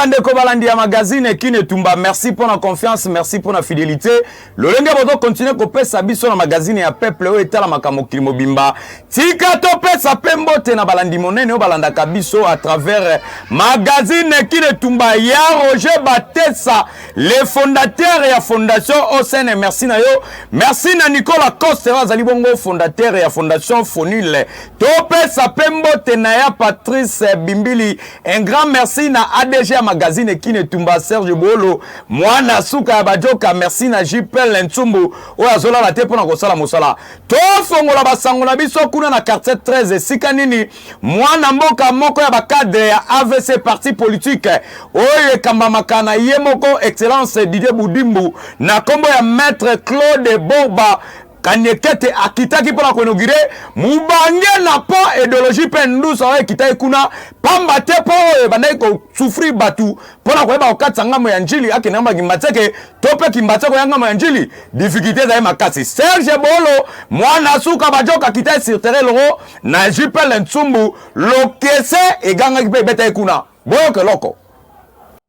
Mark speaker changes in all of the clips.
Speaker 1: bandeko balandi ya magazine kin etumba merci mpo na confiance merci mpo na fidelité lolenge bozo continue kopesa biso na magazine ya peuple oyo etalamaka mokili mobimba tika topesa mpe mbote na balandi monene oyo balandaka biso à travers magazine kinetumba ya roger batesa le fondateur ya fondation osn merci na yo merci na nicolas coste oyo azali bongo fondateur ya fondation fonule topesa mpe mbote na ya patrice bimbili Un grand merci na ADG ya magazine Kine Tumba Serge Bolo mwana suka ya bajoka merci na JPL Ntsumbu oyo azolala te mpo na kosala mosala tofongola basango na biso kuna na quartier 13 esika nini mwana mboka moko ya bacadre ya AVC parti politique oyo ekambamaka na ye moko excellence Didier Budimbu na nkombo ya maître Claude Borba Kaniekete akitaki mpo na koinogire mobange na mpo ideologie mpe ndusa oyo ekitaki kuna pamba te mpo oyo ebandaki kosufrir bato mpo na koyeba kokatisa ngambo ya njili akende ngambo ya kimbatseke to mpe kimbatseke oya ngambo ya njili difikilte ezali makasi serge bolo mwana suka bajoka akitaki sirtere elongo na jipele nsumbu lokese egangaki mpe ebetaki kuna boyoka eloko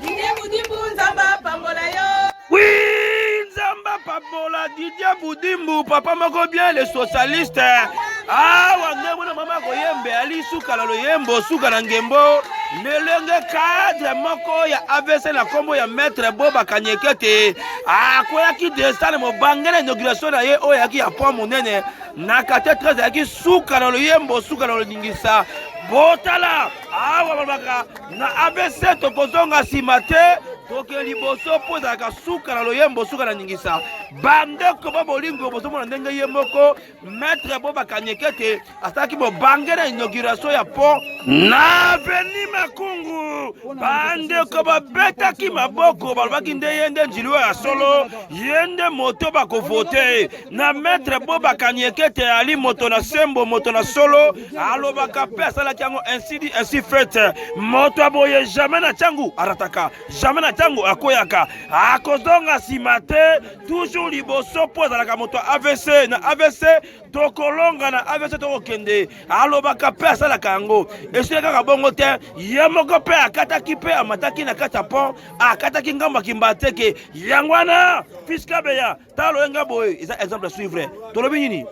Speaker 1: Didier Budimbu Nzambe apambola yo. Oui, Nzambe apambola Didier Budimbu papa moko bien le socialiste. Ah, wande mwana mama koyembe ali suka na loyembo suka na ngembo lelenge cadre moko ya avc na nkombo ya maître boba kanyekete akweyaki desane mobange na inauguration na ye oyo ayaki ya pont monene na quartier 13 ayaki suka na loyembo suka na loningisa botala awa balobaka Na ABC tokozonga nsima te, toke liboso mpo ezalaka suka na loyembo, suka na ningisa. Bandeko ba bolingo, bozomona ndenge ye moko maître Boba Kanyekete asalaki bobange na inauguration ya pont na avenue Makungu. Bandeko babetaki maboko, balobaki nde ye nde njili oyo ya solo, ye nde moto bakovote na maître Boba Kanyekete, ali moto na sembo, moto na solo. alobaka mpe asalaki yango ainsi dit ainsi fait moto aboye jamais na ntango arataka jamais na ntango akweyaka akozonga nsima te toujours liboso mpo azalaka moto ya avc na avc tokolonga na avc tokokende alobaka mpe asalaka yango esili kaka bongo te ye moko mpe akataki mpe amataki na kati ya pont akataki ngambo ya kimbateke yango wana fiskabeya talo enga boye eza exemple à suivre tolobi nini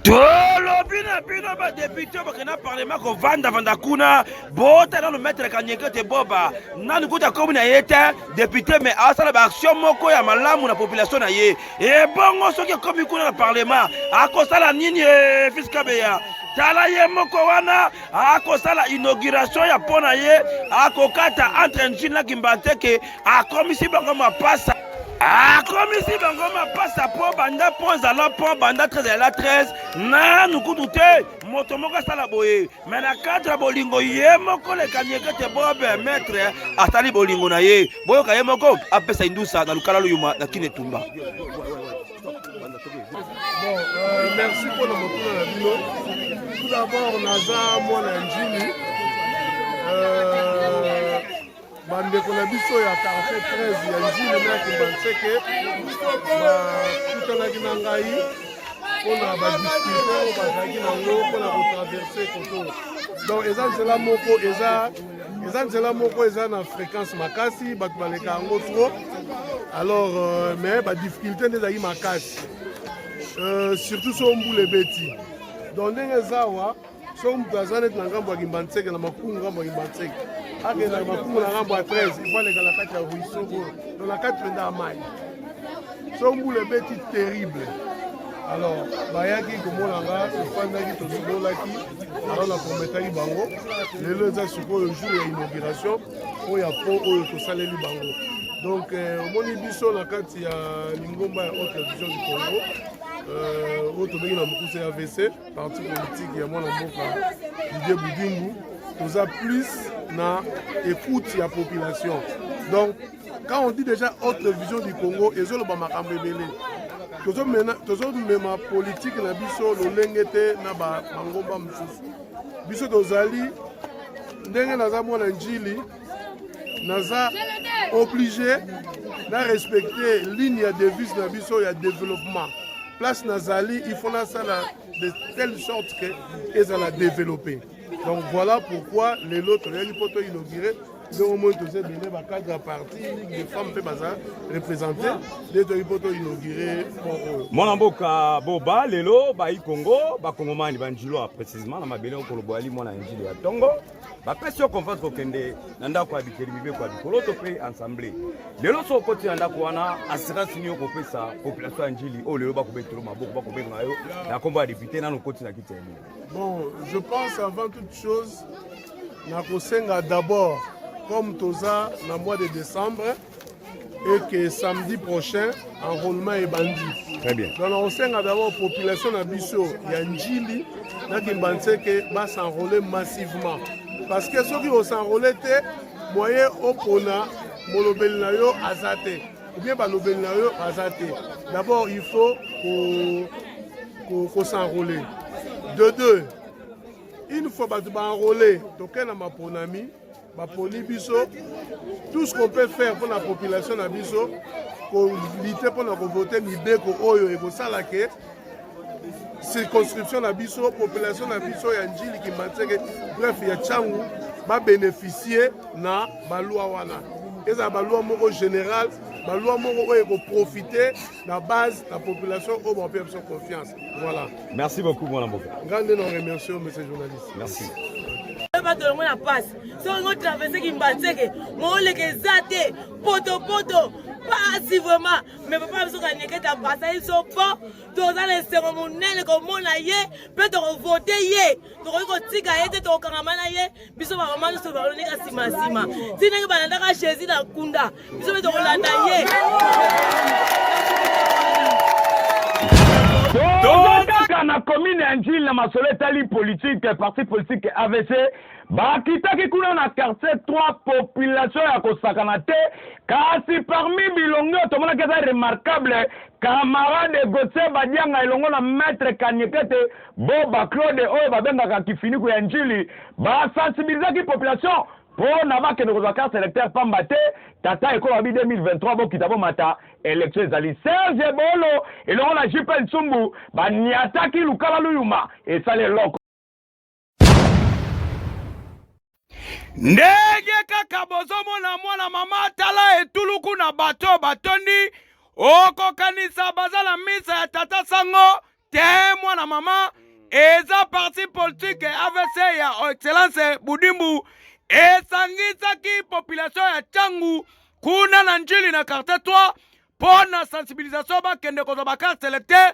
Speaker 1: tolobi na bino badepute bakenda parlement kovandavanda kuna bota nano maitre kanyeke te boba nani kuta komi na ye te depute me asala baaction moko ya malamu na population na ye ebongo soki ekomi kuna na parlement akosala nini eh, fiskabeya tala ye moko wana akosala inauguration ya mpo na ye akokata entre njili na kimbanteke akomisi bango mapasa akomisi bango mapasa mpo banda mpo ezala mpo banda 13 ezala 13 nanu kutu te moto moko asala boye me na cadre ya bolingo ye moko lekanieke te bobe maître asali bolingo na ye boyoka ye moko apesa indusa na lukala luyuma na kine tumba Bon, euh,
Speaker 2: merci pour le motuna na bino tout d'abord naza mwana ya njili euh, bandeko na biso ya quartier 13 ya njili na kimbanseke bakutanaki na ngai mpona badiscute oyo bazalaki nango mpona kotraverse koto donc eza nzela moko eza eza nzela moko eza na fréquence makasi bato baleka yango trop alors euh, mais badifficulté nde ezalaki makasi euh, surtout so mbula ebeti donc ndenge eza awa soki moto aza neti na ngambo ya kimbanseke na makumu ngambo ya kimbanseke akenda na makumu na ngambo ya 13 ifo aleka na kati ya ruisseau oyo to na kati mpenza ya mai so mbula ebeti terrible alors bayaki komona nga tofandaki tosololaki alors naprometaki bango lelo eza sikoyo jour ya inauguration mpo ya po oyo tosaleli bango donc euh, omoni biso na kati ya lingomba ya haute vision du congo euh, oyo tobengi na mokuse ya vc parti politique ya mwana mboka Didier Budimbu toza plus na écoute ya population donc quand on dit déjà autre vision du Congo ezoloba makambo ebele tozomema politique na biso lolenge te na bangomba mosusu biso tozali ndenge naza mwana njili naza oblige na respecte ligne ya devise na biso ya développement place nazali il faut nasala de telle sorte que ezala développe donc voilà pourquoi lelo toyaki mpo to inaugure ndenge omoi toza ebele bacadre ya parti ligue de femme mpe baza représente nde toyaki mpo to inaugure pont oyo mwana mboka
Speaker 3: boba lelo bayi kongo bakongomani banjilo ya précisement na mabele okoloboyali mwana ya njili ya ntongo bapesi yo confiance kokende na ndako ya bikeli mibeko ya bikoloto mpe ensemble lelo so okoti na ndako wana assurance nini okopesa population ya njili oyo lelo bakobetelo maboko bakobenga yo na nkombo ya depute nano okoti na kiti ya ebele bon je
Speaker 2: pense avant toute chose nakosenga d'abord comme toza na mois de décembre et que samedi prochain enrôlement ebandi très bien donc nakosenga
Speaker 3: d'abord
Speaker 2: population na biso ya njili na kimbanse ke basenrole massivement parce que soki osenrole te moyen opona molobeli na yo aza te obie balobeli na yo aza te d'abord il faut kosenrole de deux une fois bato baenrole tokei na maponami baponi biso tout ce qu'on peut faire mpo na population na biso kolite mpo na kovote mibeko oyo ekosala ke circonscription na biso population na biso ya njili kimbanseke bref ya cangu babeneficie na balwa wana ezala balwa moko général balwa moko oyo ekoprofite na base na population oyo bakopeya biso confiance voilà merci beaucoup mwana
Speaker 3: mboka ngai nde na remercie yo
Speaker 2: monsieur journaliste merci
Speaker 3: bato
Speaker 4: yango na pasi soki ngo traverse kimbanseke mooleka eza te potopoto pasi vraiment mais papa biso kanyeketa pasa biso po toza na esengo monene komona ye mpe tokovote ye tokoki kotika ye te tokokangama na ye biso bamama nyonso baloneka nsima nsima ti ndenge
Speaker 3: balandaka jésus na nkunda biso mpe tokolanda ye tolondaka na komine ya njili na masolo etali politike parti politike avc bakitaki kuna na quartier 3 population ya kosakana te kasi parmi bilongi oyo tomonaki eza remarquable camarade gautier badianga elongo na maître kanyekete Bo ba Claude oyo ba bengaka kifiniku ya ndjili ba sensibilisaki population po na ba kende kozwa carte electeur pamba te tata ekolo alobi 2023 bokita bomata election ezali Serge ebolo elongo na JP nsumbu ba niataki lukala luyuma esali eloko
Speaker 1: ndenge kaka bozomona mwana mama atala etuluku na bato oyo batondi okokanisa baza na misa ya tata sango te mwana mama eza parti politike avc ya excellence budimbu esangisaki population ya cangu kuna na njili na quartier 3 mpo na sensibilisation bakende kozwa bakarte electeur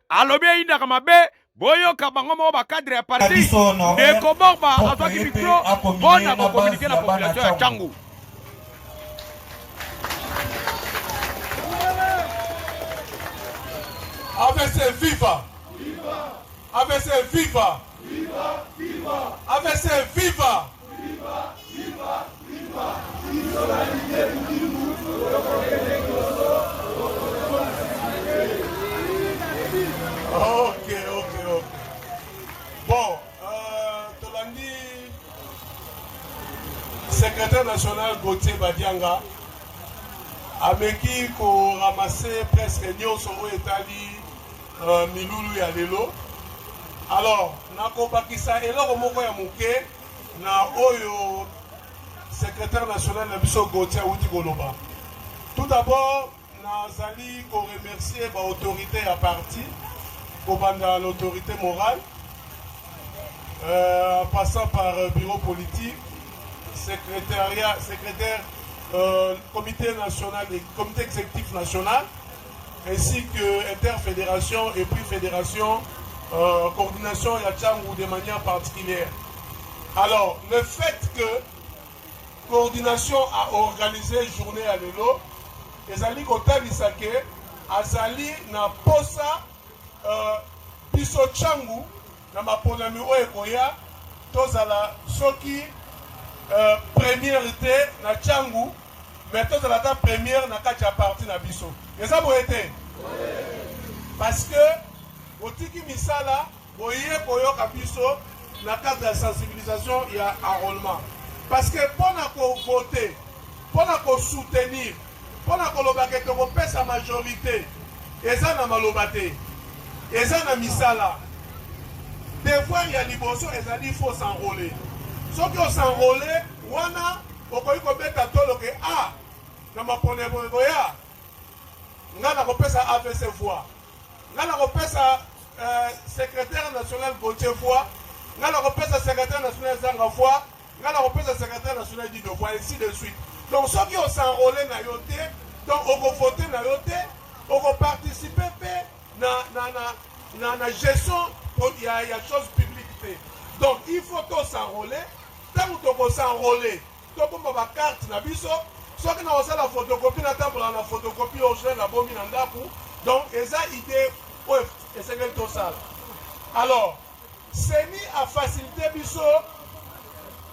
Speaker 1: alobi eyindaka mabe boyoka bango moko bakadre ya parti ndeko borba azwaki mikro mpo na kokominike na population ya cangu
Speaker 2: avc viva avc viva avc viva secrétaire national Gauthier Badianga ameki koramase presque nyonso oyo etali Uh, milulu ya lelo alors nakobakisa eloko moko ya moke na oyo secrétaire national na biso Gauthier awuti koloba tout d'abord nazali koremercier baautorité ya parti kobanda l'autorité morale euh, en passant par euh, bureau politique secrétariat secrétaire euh, comité national comité exécutif national ainsi que interfederation et puis fédération, euh, coordination ya Tchangou de manière particulière. Alors, le fait que coordination a organisé journée à l'élo, ezali kotalisa ke azali na posa euh, biso Tchangou Na maponami oyo ekoya, tozala soki premiere te na tshangu, mais tozala ata premiere na kati ya parti na biso. Eza boye te? Parce que botiki misala, boye koyoka biso na cadre ya sensibilisation ya enrolement. Parce que pona ko voter, pona ko soutenir, Mpo na koloba ke tokopesa majorite eza na maloba te, eza na misala. Devoir ya liboso ezali il faut s'enroler. Soki o s'enroler, wana okoki kobeta tolo ke a ah, na maponi ekoya nga nakopesa avc voix nga nakopesa euh, secrétaire national gautier voix nga nakopesa secrétaire national ezanga voix nga na kopesa secretaire national du devoir ainsi de suite donc soki osenrole na yo te donc okovote na yo te okoparticipe mpe na, na, na, na, na gestion ya, ya chose publique te donc il faut tosenrole ntango tokosenrole tobomba bakarte na biso soki na kosala photocopie natambola na photocopie original nabomi na ndako donc eza idée oyo esengeli tosala alors Ceni a facilite biso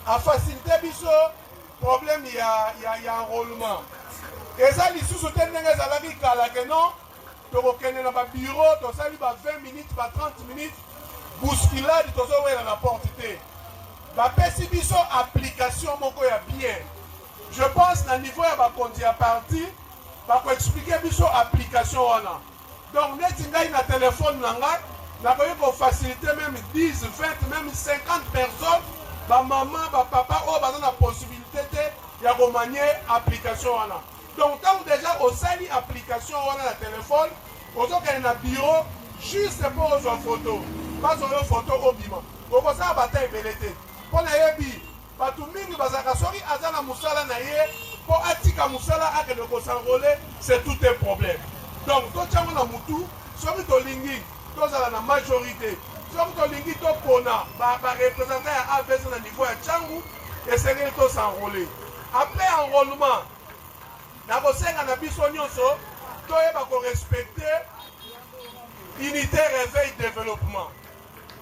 Speaker 2: a facilite biso problème ya ya ya enrôlement eza lisusu te ndenge ezalaki kala ke non tokokende na ba bureau tosali ba 20 minutes ba 30 minutes bousculade tozowela na porte te bapesi biso application moko ya bien je pense na niveau ya bakonzi ya parti bakoexplike biso application wana Donc neti ngai na telephone na ngai nakoki ko faciliter meme 10, 20, meme 50 personnes ba maman ba papa oyo baza na possibilite te ya ko manier application wana. Donc tango dejà osali application wana na telephone ozokende na bureau juste mpo ozwa foto bazwa yo foto obima okosala ba temps ebele te mpo nayebi Batu mingi bazalaka soki aza na musala na ye po atika musala akende ko s'enrole c'est tout un problème donc totia ngo na mutu soki tolingi tozala na majorite soki tolingi topona ba ba representant ya avc na niveau ya tshangu esengeli to s'enrole après enrôlement nakosenga na biso nyonso toyeba korespecte unité réveil développement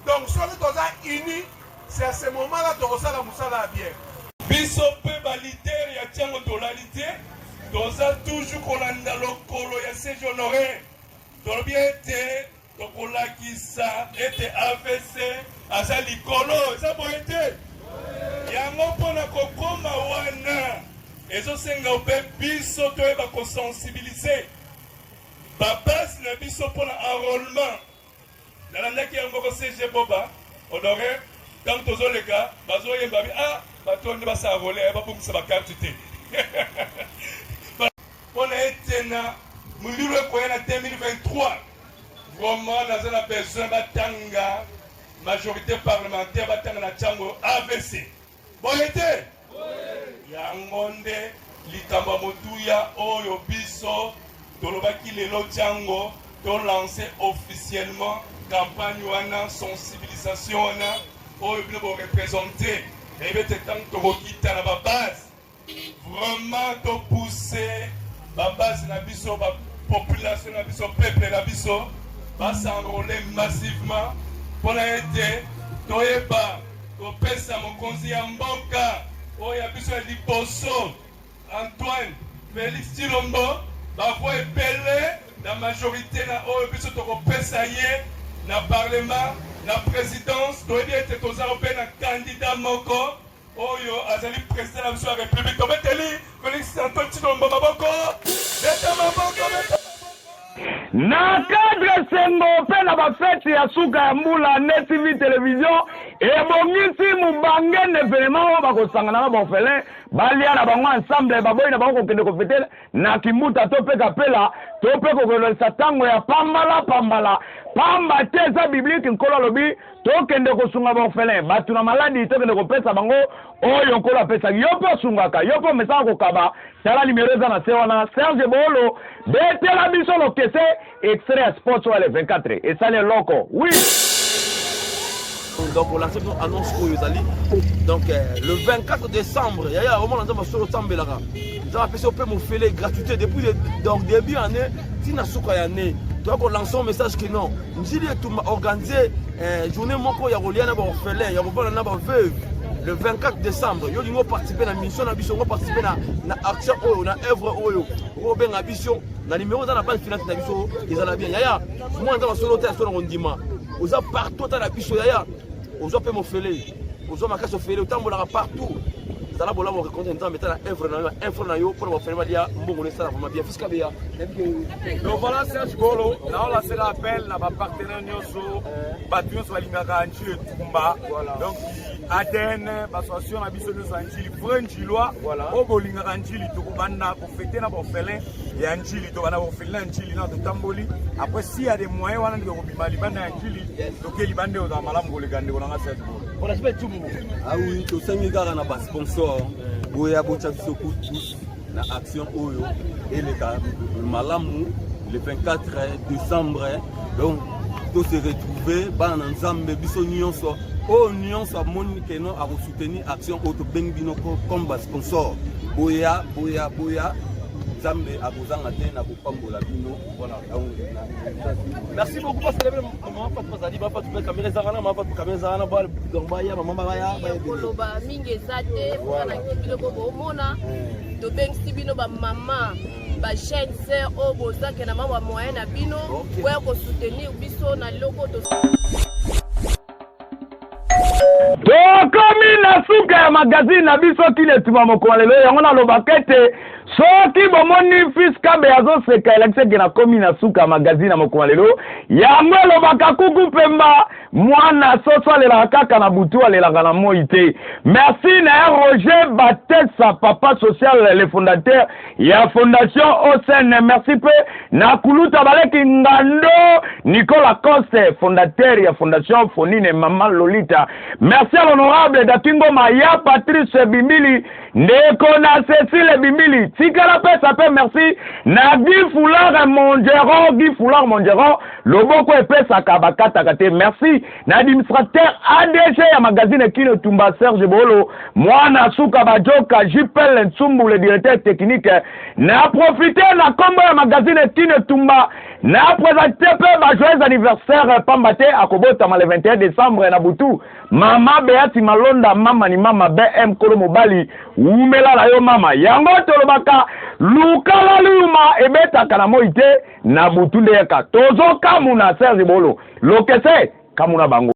Speaker 2: Donc soki toza uni c'est à ce moment là tokosala musala ya bien. Biso pe
Speaker 5: ba leader ya tiango tolali te toza toujours kolanda lokolo ya se honore tolobi ete tokolakisa ete avc aza likolo eza boye te yango mpo na kokoma wana ezosenga mpe biso toyeba kosensibilize babase na biso mpo na enrollement nalandaki yango ko CG Boba Honore ntango tozoleka bazoyemba bi ah bato oyo nde basala vole eh, babongisa bakarte te mpo na ete na molulu ekoya na 2023 vraiment naza na besoin batanga majorité parlementaire batanga na ntango avc boye te yango nde likambo ya motuya oyo biso tolobaki lelo ntango tolanse officiellement campagne wana sensibilisation wana oyo bino borepresente eyebi ete ntango tokokita na babase Vraiment to pousser ba base na biso ba population na biso peuple na biso ba s'enrôler massivement pona ete toyeba kopesa mokonzi ya mboka oyo ya biso ya liboso Antoine Felix Tshilombo bavua ebele na majorité na oyo biso tokopesa ye na parlement na présidence toyebi ete toza mpe na kandida moko Oyo azali president na biso ya republique tobeteli Felix
Speaker 3: Antoine Tshilombo maboko beta maboko beta na cadre esengo mpe na bafeti ya suka ya mbula nde tv television ebongisi mobange na evenema oyo bakosangana na baofele balia na bango ensemble baboyi na bango kokende kofete na kimbuta to mpe kapela to mpe kokololisa ntango ya pambala pambala pamba te eza biblike nkolo alobi Tokende kosunga ba orphelins, batu na maladi tokende kopesa bango oyo Nkolo apesaki. Yo pe osungaka, yo pe omesana kokaba, tala numero eza na se wana. Serge Boolo, betela biso lokese extrait ya Sports oyo ya le 24 esali eloko. Oui! donc
Speaker 1: olance biso annonce oyo ezali donc euh, le 24 décembre yaya omona nzambe asolo otambelaka nzambe apesi ope mofele gratuité depuis donc début année ntina suka ya année toya kolancer message que non Njili Etumba organise eh, journée moko ya kolia na baorphelin ya kovanda na baveuve le 24 décembre yo lingo participe na mission na biso ngo participe na, na action oyo na œuvre oyo okobenga biso na numéro eza na base finance na biso ezala bien yaya mwana nzambe asolo te asolo na kondima oza partout ata na biso yaya ozwa mpe mofele ozwa makasi ofele otambolaka partout zala bolamu okekonte nzambe ata na œuvre na yo na info na yo mpo na bafele balia mbongo na esala vraimen bien donc
Speaker 6: voilà serge golo naolasela appel na bapartenaire nyonso bato nyonso balingaka njili etumba donc adn basoation na biso nyonso ya njili vrai njilois oyo bolingaka njili tokobanda kofete na baorphelin ya njili tobanda baorphelin ya njili na totamboli après si ya de moyen wana ndeko kobima libanda ya njili toke libanda eyo ozala malamu koleka ndeko nanga serge golo
Speaker 1: awi
Speaker 7: tosengi kaka na basponsor boya botya biso kutu na action oyo eleka malamu le 24 décembre donc to se retrouver bana na nzambe biso nyonso oyo nyonso amoni keno akosoutenir action oyo tobengi bino comme basponsor boya boya boya nzambe akozanga te na kopambola bino merci beaucoup
Speaker 1: koloba mingi eza
Speaker 8: te mpona biloko bomona tobengisi bino bamama bajeune sœur oyo bozake na mama moyen na bino oya kosoutenir biso na loko
Speaker 3: tokomi na suka ya magazine na biso kina etumba mokoma lelo yango nalobaka ete soki bomoni fils kabe azoseka elakisi ete nakomi na suka ya magazine ya mokoma lelo yango elobaka kuku mpemba mwana soso alelaka kaka na butu alelaka na moi te merci na ya roger batesa papa social le fondateur ya fondation OSN merci mpe na kuluta baleki ngando Nicolas Coste fondateur ya fondation Fonine Mama Lolita merci à l'honorable Dakingo Maya Patrice Bimbili ndeko na Cecile Bimbili tikala pesa mpe merci na Guy Foulard Mongeron Guy Foulard Mongeron loboko epesaka bakataka te merci na administrateur ADG ya magazine Kin Etumba Serge Bolo, mwana suka bajoka JPL Nsumbu le directeur technique. Na profiter na kombo ya magazine Kin Etumba na presenter mpe ba joyeux anniversaire pamba te akobotama le 21 décembre na butu. Mama Beati Malonda mama ni mama BM kolo mobali wumela na yo mama. Yango tolobaka lukala luyuma ebetaka na moi te. Na butu nde yaka tozo kamuna Serge bolo lokese kamuna bango.